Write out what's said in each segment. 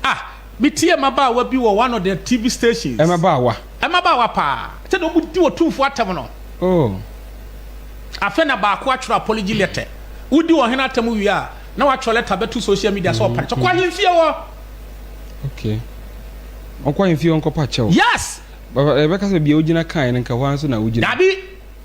Ah, me tie mmabaawa bi wɔ one of their TV stations. Mmabaawa. Mmabaawa paa. Sɛdeɛ wɔn di Otumfoɔ atɛm no. Oh. Afei na baako atwerɛ apology letter. Wodi ɔhene atɛm wie a, na watwerɛ letter bɛto social media sɛ ɔpare kyɛ. Kɔ ahemfie hɔ. Okay. Ɔkɔ ahemfie hɔ nkɔpa kyɛw. Yes. Baba, ɛbɛka sɛ bia wogyina kae no nka hɔ ara nso na wogyina. Dabi.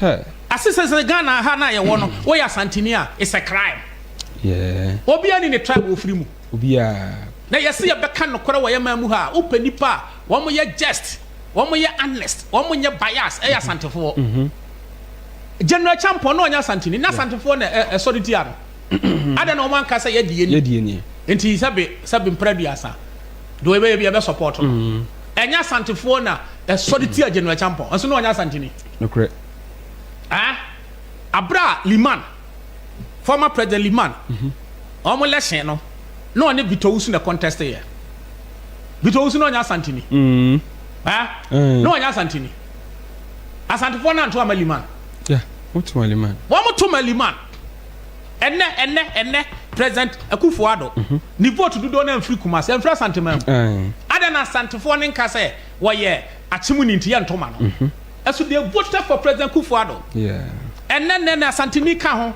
Huh. Ase sɛ sɛ Ghana ha no a yɛwɔ no woyɛ Asanteni a it's a crime. Yeah. Obiara ni ne tribe ofiri mu. Obiara. Na yɛse yɛbɛka nokorɛ wɔ yɛ man mu ha a wopɛ nipa a wɔn yɛ just, wɔn yɛ honest, wɔn nyɛ bias ɛyɛ Asantefoɔ. General Acheampong na ɔnyɛ Asanteni na Asantefoɔ na ɛsɔre tia no. Adɛn na wɔn anka sɛ yɛ deɛ ni. Yɛ deɛ ni. Nti sɛbe sɛbe mpra duasa deɛ yɛbɛyɛ bi yɛbɛ support no. Ɛnyɛ Asantefoɔ na ɛsɔre tia General Acheampong nso na ɔnyɛ Asanteni. Nokorɛ. Ɛɛ bere a Liman, former President Liman, wɔn election no, na ɔne Victor Owusu na contest yɛ. Victor Owusu na ɔnyɛ Asanteni. Ɛɛ na ɔnyɛ Asanteni. Asantefoɔ no anto ama Liman. Yeah, wɔn to ma Liman. Wɔn to ma Liman. Ɛnɛ ɛnɛ ɛnɛ President Akufo Addo, ne vote dodoɔ no amfiri Kumasi, amfiri Asanteman mu. Adɛn na Asantefoɔ no nka sɛ Wɔyɛ akye mu ninteɛ ntoma no ɛso they voted for President Kuffo Addo ɛnɛ nnɛ na Asanteni ka ho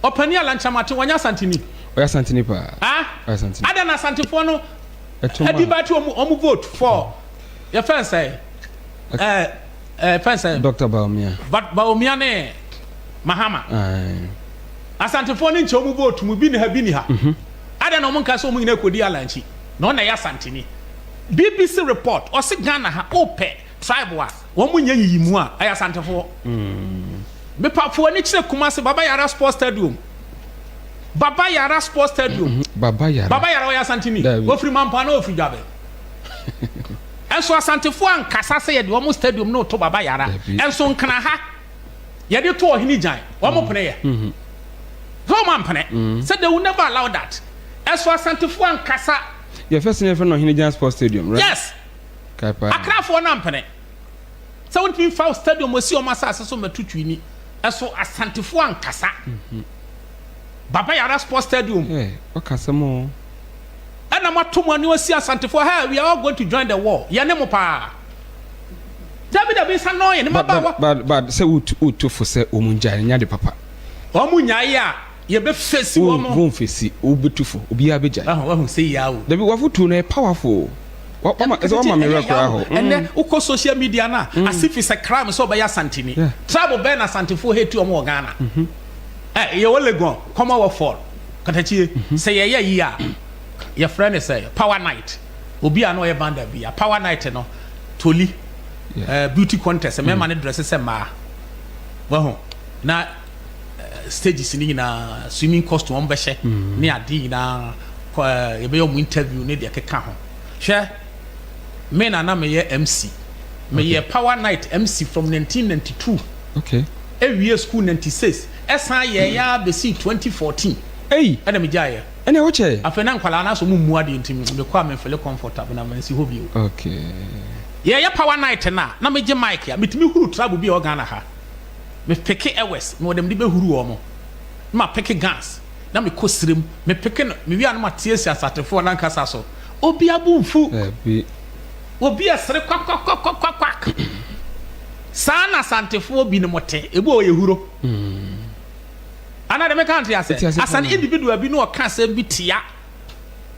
ɔpanin Alan Kyerematen wɔnyɛ Asanteni? Ɔyɛ Asanteni paa ah adɛn na Asantefoɔ no ɛdi ba ti wɔn vote for yɛ fɛn sɛ ɛɛ ɛɛ fɛn sɛ Dr. Bawumia Bawumia ne Mahama Asantefo ne nkyɛn wɔn vote mu bi ni ha bi ni ha adɛn na wɔn nka sɛ wɔn nyinaa kɔ di Alan akyi. na ɔna yɛ asanteni bbc report ɔse Ghana ha opɛ tribe a wɔn mo nyɛ nyiyimu a ɛyɛ asantefoɔ mepa fo ani kyerɛ Kumasi baba yara sports stadium baba yara sports stadium mhm. baba yara baba yara ɔyɛ asanteni ofiri mampa na ofiri dwabe ɛnso asantefoɔ ankasa sɛ yɛde wɔn stadium na ɔto baba yara ɛnso nkana ha yɛde to ɔhene gyan wɔn mm. pene yɛ mm-hmm. sɛ wɔn ampene mm-hmm. sɛ they will never allow that ɛso asantefoɔ ankasa. yɛfɛ sini yɛfɛ no ɔhene gyan sports stadium right. yes akrafoɔ no ampene sɛ wɔn ti mi fa stadium osi wɔn asase so mɛtu twi ni ɛso asantefoɔ ankasa mm-hmm. baba yara sports stadium. ɛ ɔkasa mu o. ɛna mo ato mo ani osi asantefoɔ hey we are all going to join the war yɛne mo paa. Dabi dabi nsa no yɛ ne But but mmabaawa. but but sɛ wo tu wo tu fo sɛ wɔn ngyae no nyɛ ade papa. Wɔn nyae a yɛ bɛ fesi Wo wɔn. wo nfesi wo bɛ tu fo obiara bɛ gyae. Wahu wahu sei yaa o. Dabi wafotuo no ɛyɛ powerful o. Wa wa ma ɛsɛ wa ma me werɛ koraa how. Ɛnɛ Mm. wokɔ social media no a as if it's a crime sɛ ɔbɛyɛ Asanteni. Yeah. Tribe bɛn na Asantefoɔ hate wɔn wɔ Ghana? Ɛ yɛwɔ Legon, Commonwealth Fall, Katakyie. Sɛ yɛyɛ yie a yɛfrɛ no sɛ power night. obi a na ɔyɛ banda bi a power night no toli yeah. uh, beauty contest mmarima mm. no dress sɛ mmaa wahu na uh, stages no nyinaa swimming costume wɔn bɛhyɛ mm. ne adeɛ nyinaa uh, yɛbɛyɛ wɔn interview ne deɛ keka ho hwɛ me na na meyɛ mc meyɛ okay. power night mc from 1992 okay. ewie school 96 ɛsan yɛn ya bɛsi 2014 ɛna megyaeɛ Ɛne wo kyɛ. Afei na nkwadaa no asɔ ɔmo mmu adeɛ nti me kɔ a me nfele comfortable na mansi hɔ bio. Okay. Yɛ yɛ power night no a na me gye mic a me tumi huru trouble bi a ɛwɔ Ghana ha. Me peke ɛwɛs me wɔ deɛ me de bɛ huru ɔmo. Na ma peke guns na me kɔ sire mu me peke no me wie a na ma tie si asatefoɔ no ankasa so. Obia bo nfu. Dabi. Obi ɛsere kwakwakwakwakwakwak. Saa na asantefoɔ bi nom te. Ebi wɔ hɔ yɛ huro. Ana deɛ meka nte ase? As an individual bi na ɔka asɛm bi tia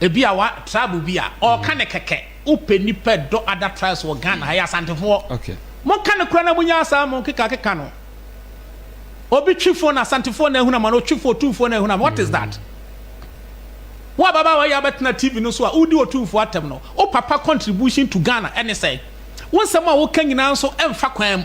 ebi a wa tribe bi a, ɔka ne kɛkɛ. Wopɛ nipa dɔ other tribes wɔ Ghana ha yɛ Asantefoɔ. Monka no kora na monya asaa mo keka keka no. Obi twi fon na Asantefoɔ na ahunu ama no, otwi fon Otumfoɔ na ahunu ama what is that? Wo ababaawa yi abɛtena TV no so a wodi Otumfoɔ atɛm no, wo papa contribution to Ghana ɛne sɛn? Wo nsɛm a woka nyinaa nso ɛmfa kwan mu.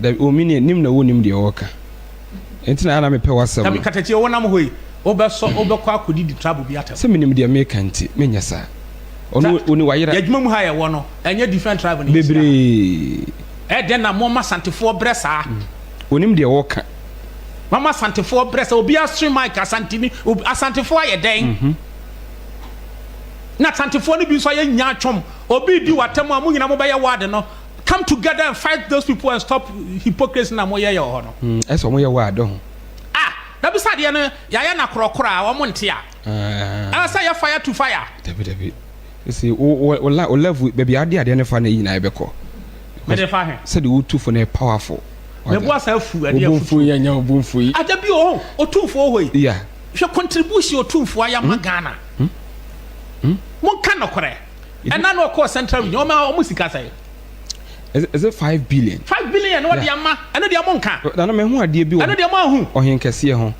Dabi, o Minie, nim na wonnim deɛ wɔka, enti na ana mepɛ w'asɛm no. Dabi, Katakyi, wonam hɔ yi, wobɛsɔ, wobɛkɔ akɔdidi trabo bi atɛm. Sɛ menim deɛ mereka nti, menyɛ saa. Ɔno, o ne w'ayera. Y'adwuma mu ha a yɛwɔ no, ɛnyɛ different tribal na yɛhyia ha. Bebree. Ɛyɛ dɛn na moama Asantefoɔ brɛ saa? Wɔnim deɛ wɔka. Moama Asantefoɔ brɛ saa, obiara sre mic, Asanteni, obi, Asantefoɔ ayɛ dɛn? Na Asantefoɔ no bi nso ayɛ nyaatwom, obi redi w'atɛm a, mo nyinaa mobɛyɛ ward no. Come together and fight those people and stop hypocrisy na mo yɛ yɛ wɔ hɔ no. Mm, ɛsɛ wɔn yɛ wɔ adɔ ho. Ah, dabi sɛ adeɛ no yɛayɛ no akorɔkorɔ a wɔn nte a. Ah. Ɛsɛ yɛ fire to fire. Dabi dabi. Sisi o o o la o level baabi ade adeɛ no fa na eyi na ɛbɛkɔ. Mede fa he. Sɛde wotu fo no yɛ powerful. Mɛbu asa afu ɛdeɛ afutuo. Obomfo yi anya obomfo yi. Adabi o, otumfo oho yi. Yeah. Hwɛ contribution otumfo ayɛ ama hmm? Ghana. Hmm? Hmm? Monka nɔkorɛ. Ɛna na ɔkɔɔ central region ɔma ɔmo sika sɛn. Is it five billion. Five billion na ɔde ama ɛno deɛ ɔmo nka. Nana mɛho adeɛ bi wɔ. Ɛno deɛ ɔmo ahu. Ɔhenkɛseɛ ho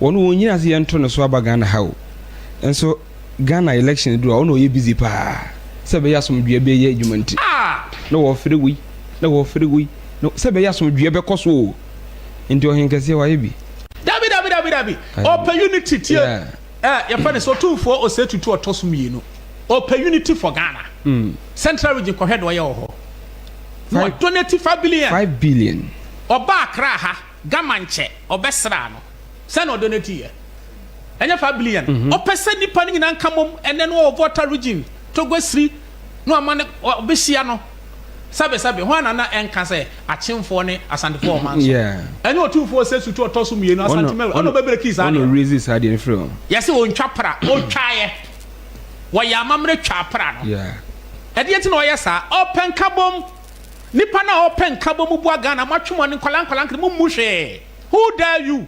ɔno wɔn nyina sɛ yɛnto no so aba Ghana ha o nso Ghana election duru a ɔno ɔyɛ busy paa sɛ ɛbɛyɛ asomdwee bɛyɛ adwuma nti na wɔfere wei na wɔfere wei na sɛ ɛbɛyɛ asomdwee bɛkɔ so o nti ɔhenkɛseɛ wayɛ bi. Dabi dabi dabi dabi ɔpɛ unity tie. Yeah. Eh yɛfrɛ no sɛ ɔtumfoɔ ɔsɛ tutu ɔtɔ so mmienu ɔpɛ unity for Ghana mm. central region kɔhwɛ deɛ ɔyɛ wɔ hɔ na ɔdonate five billion five billion ɔba akra ha gama nkyɛ ɔbɛsra no sɛna ɔdonate yɛ ɛnyɛ five billion mm -hmm. ɔpɛ sɛ nipa no nyinaa nka mom ɛnɛ no ɔwɔ voter region togo siri na ɔma no ɔbɛhyia no Sɛbesɛbe, hwan na na ɛnka sɛ Akyemfoɔ ne Asantefoɔ wɔ ɔman so? Ɛne Otumfoɔ Osesu to ɔtɔ so mmienu, Asante Mary, ɛna ɔbɛbrekii saa deɛ no. Yɛse ɔntwa pra, ɔtwaeɛ. Wɔyɛɛ amammerɛ twaa pra no. Ɛdeɛn nti na ɔyɛ saa? Ɔpɛ nkabom. Nnipa no a ɔpɛ nkabom boa Ghana, moatwe mo ani, nkwadaa nkwadaa nketewa, mommu hwee. Who dare you?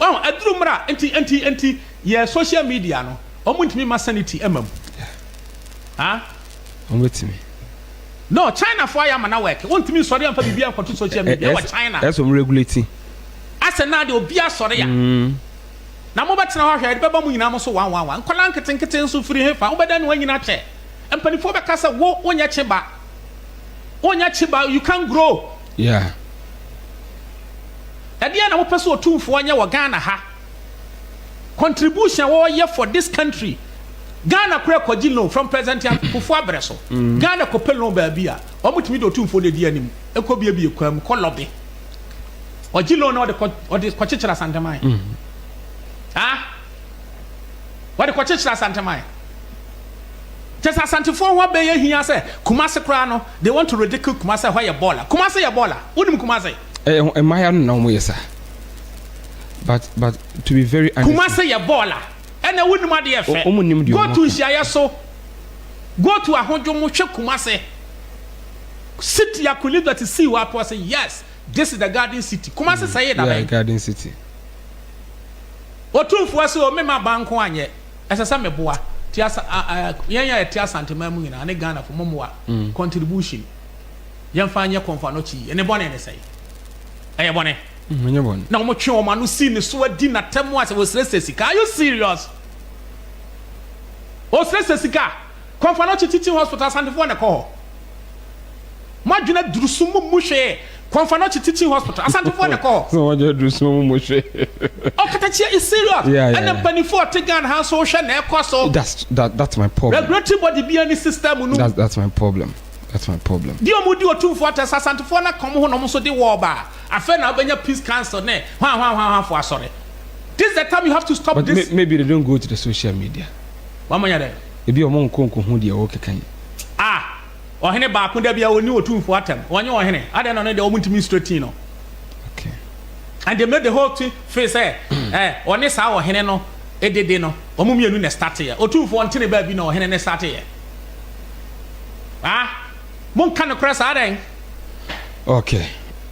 Wahu? Aduru mmra. Enti, enti, enti, yɛ social media no, wɔn ntumi ma sanity mma mu. Ha? Wɔn betumi. No, China fo ayɛ ama na work. Wɔn ntumi nsɔre amfa biribi ankɔto social media wɔ China. Ɛsɛ wɔn regulate. Asɛ na de obi asɔre a. Na mo bɛtena hɔ ahwɛ, yɛde bɛba mo nyinaa mo so one one one. Nkɔla nketenkete nso firi he fa? Wo bɛda ne wɔn nyinaa kyɛ. Mpanimfoɔ bɛka sɛ wo, wonyɛ kye ba. Wonyɛ kye ba, you can't grow. Yeah. Ɛdeɛn na wopɛ sɛ Otumfoɔ nyɛ wɔ Ghana ha? Contribution a wɔyɛ for this country. Ghana koraa kɔgye loan from President Kufuor abrɛ so. Ghana kɔpɛ loan baabi a, wɔtumi de Otumfoɔ no di anim kɔ biebie kwan mu kɔ lobby. Ɔgye loan na ɔde kɔkyekyere Asanteman. Ah! Wɔde kɔkyekyere Asanteman. Kyerɛ sɛ Asantefoɔ ho abɛyɛ hia sɛ Kumasi koraa no they want to ridicule Kumasi sɛ ɛhɔ yɛ bɔɔla. Kumasi yɛ bɔɔla? Wonim Kumasi? Ɛyɛ ho mmaayewa no na wɔn yɛ saa but but to be very honest. Kumasi yɛ bɔɔla? Ɛnɛ wonim adeɛ yɛ fɛ? Wɔn nim deɛ wɔn ka. Go to nhyiaeɛ so. Go to ahodwo mu hwɛ Kumasi. Sit your colleague that is see wɔ apɔ sɛ yes this is the garden city. Kumasi mm, sɛ yɛ dabɛn. Yeah garden city. Otumfoɔ sɛ o mema ba nko anyɛ. Ɛsɛ sɛ meboa te asa a a yɛn a yɛte Asanteman mu nyinaa ne Ghanafo mo mmoa contribution yɛmfa nyɛ Kɔmfoanɔkye yi ne bɔne ne sɛe? Ɛyɛ bɔne? Mm, ɛnyɛ bɔne. Na wɔtwe wɔn ano sii ne so adi n'atam ase, wɔsrɛsrɛ sika. Are you serious? Wɔsrɛsrɛ sika? Kɔ fa no kye Teaching Hospital Asantefoɔ na ɛkɔ hɔ Mo adwene aduru so mo mmu hwee Kɔ fa no kye Teaching Hospital Asantefoɔ na ɛkɔ hɔ Mo adwene aduru so mo mmu hwee. Ɔkatakyie is serious Yeah, yeah, ɛna yeah. mpaninfoɔ a ɔte Ghana ha nso wo hwɛ na ɛkɔ so. That's that that's my problem. Regulatory body biara nni system no mu. That's that's my problem that's my problem. Deɛ ɔmo di Otumfoɔ atɛ sɛ Asantefoɔ no aka ɔmo ho na ɔmo nso de war ba a, afei na wobɛnya Peace Council ne hwanhwanhwanhwanfoɔ asɔre. This is the time you have to stop But this. may, maybe they don't go to the social media. Wɔama nya dɛn? Ebia wɔnkɔ nkohu deɛ wokeka yi. A, ɔhene baako da biara ɔnni otumfoɔ atɛm, ɔnyɛ ɔhene, adɛn na ɔno deɛ wɔntumi nsrɛ tii no? Okay. And they made the whole thing feel sɛ eh, ɔne saa ɔhene no edede no, wɔn mmienu na ɛstateɛ. Otumfoɔ nte ne baabi na ɔhene ne stateɛ. Ah, monka nokorɛ saa dɛn? Okay,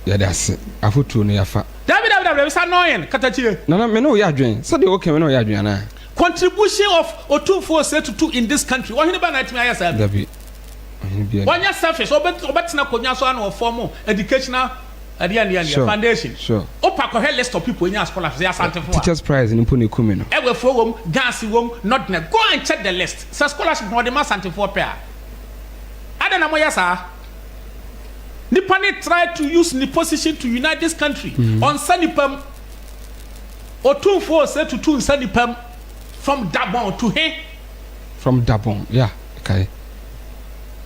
yɛde ase, afotuo no yɛafa. Dabi, dabi, dabi, dabi, sa annoying, katakyire. Nana, me ne wo yɛ adwene, sɛdeɛ woka me ne wo yɛ adwene anaa? Contribution of Otumfuo Osei Tutu in this country, Ɔhene bɛn na atumi ayɛ saa bi? Dabi, ɔhene biara nni hɔ. Ɔnyɛ selfish, ɔbɛtena akonnwa so a na ɔform educational ɛdeɛ ɛdeɛ ɛdeɛ, Sure, foundation. sure. Wopa kɔhwɛ list of people ɛnya scholarships, ɛyɛ Asantefo a. Teachers prize no mpo na ɛku me no. Ɛwɛfoɔ wɔ mu, Ghansi wɔ mu, Nordnet, go and check the list. Sɛ scholarship na ɔde ma Asantefoɔ pɛ a, adɛn na moyɛ saa? Nipa no try to use ne position to unite this country, ɔnsa nipa mu. Otumfoɔ Osei tutu nsa nnipa mu from Dabon to he? From Dabon, yeah, mekae.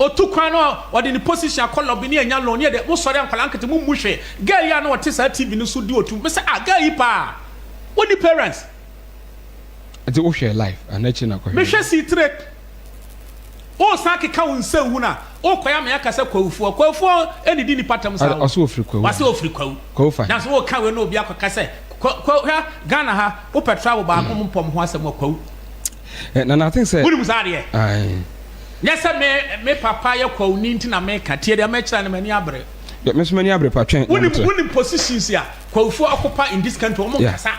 Otu kwan na ɔde ne position akɔ lobby ne anya loan, yɛ deɛ, mo sɔre a nkwadaa nkete mo mmu hwee. Girl yi a na ɔte saa TV no so di otu, me sɛ ah girl yi paa, wonni parents. Nti wo hwɛɛ live anaa akyire na kɔ hwɛɛ? Me hwɛ sii tire. Wosan keka wo nsa wu no a, wokɔ yɛ ama yɛaka sɛ Kwawufoɔ. Kwawufoɔ nnidi nnipa ntam saa o. Ɔse ofiri Kwawu. Ɔse ofiri Kwawu. Kwawu fa he? Nanso woka wei na obi akɔka sɛ Kwa, Kwa, hwɛ Ghana ha, wopɛ travel baako mo mpɔ mo ho asɛm a, Kwawu. Eh, Nana, I think sɛ. Wonim saa adeɛ? Aye. Nyɛ sɛ me, me papa yɛ Kwawuni nti na meka, tie deɛ mɛkyerɛ no, m'ani abere. Yɛ, me nso m'ani abere pa, twɛn na mekyerɛ. Wonim, wonim positions a Kwawufoɔ occupy in this country, wɔn nkasa. Yeah.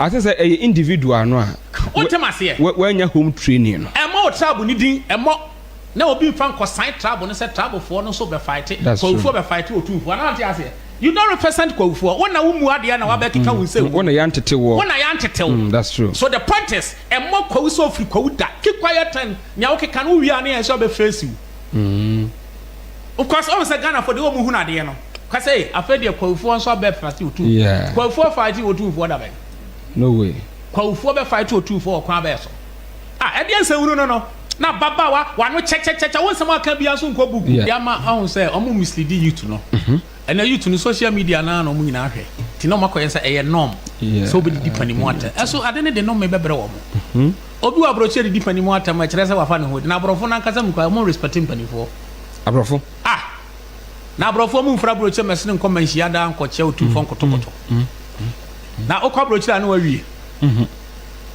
Ase sɛ ɛyɛ individual no a wannya home training no. Ɛmmɔ wo tribe no din, ɛmmɔ, na obi mfa nkɔsan tribe no sɛ tribe foɔ no nso bɛfaete, Kwawifoɔ bɛfaete Otumfoɔ. Anaa wonte aseɛ? You don't represent Kwawifoɔ. Wo na wommu adeɛ na wabɛkeka wo nsam. Wo na yɛantete woɔ. Wo na yɛantete wo. That's true. So the point is, ɛmmɔ Kwawi sɛ ɔfiri Kwawi da. Keep quiet and nea wokeka no wowie a ne yɛn nso abɛface wo. Because ɔhu sɛ Ghana fo de wɔn hunu adeɛ no ka sɛ afei deɛ kwawifoɔ nso abɛ fight otu yeah. kwawifoɔ fight otufoɔ da bɛn no way kwawifoɔ bɛ fight otufoɔ wɔ kwan bɛɛ so ah ɛdeɛ nsɛnhunu no no na baba wa wano kyɛkyɛkyɛkyɛ wo nsɛm aka bia nso nkɔ buku yeah. deɛ ama ɔhu sɛ ɔmo mislead youth no ɛna mm -hmm. youth no social media naa na ɔmo nyinaa hwɛ ti na ɔmo akɔyɛ sɛ ɛyɛ norm yeah. sɛ ɔbɛdidi panimu atɛ ɛso ade ne de no mebɛbrɛ wɔ mo mm -hmm. Obi wɔ aborɔkyire didi panin mu atam a ɛkyerɛ sɛ wafa ne ho adi. Na aborɔfo no ankasa mu koraa, wɔnrespɛte mpanimfoɔ. Aborɔfo? Ah! Na aborɔfoɔ mu mfra aburokyire mɛsene nkɔ mma nhyia daa nkɔkyɛ otumfoɔ nkotokotɔ. Na wokɔ aburokyire a na wawie.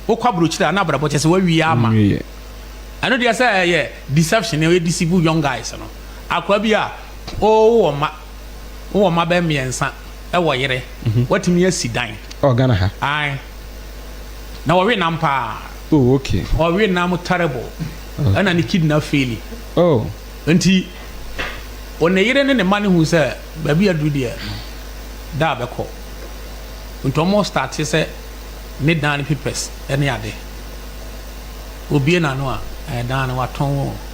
Wokɔ aburokyire a na abrabɔ kyɛ sɛ wawie ama. Ɛno deɛ sɛ ɛyɛ deception na ɛyɛ deceive young guys no. Akoa bi a ɔwɔ mma, wowɔ mma bɛyɛ mmiɛnsa, ɛwɔ yere, watumi asi dan. Ɔwɔ Ghana ha? Ae. na ɔwe nam paa oh okay ɔwe nam terrible ɛna ne kidney faili oh nti ɔne yere ne ne ma ne hu sɛ baabi aduru deɛ da bɛkɔ nti ɔmo starte sɛ ne dan ne papers ɛne ade obie n'ano a ɛdan no watɔn wɔn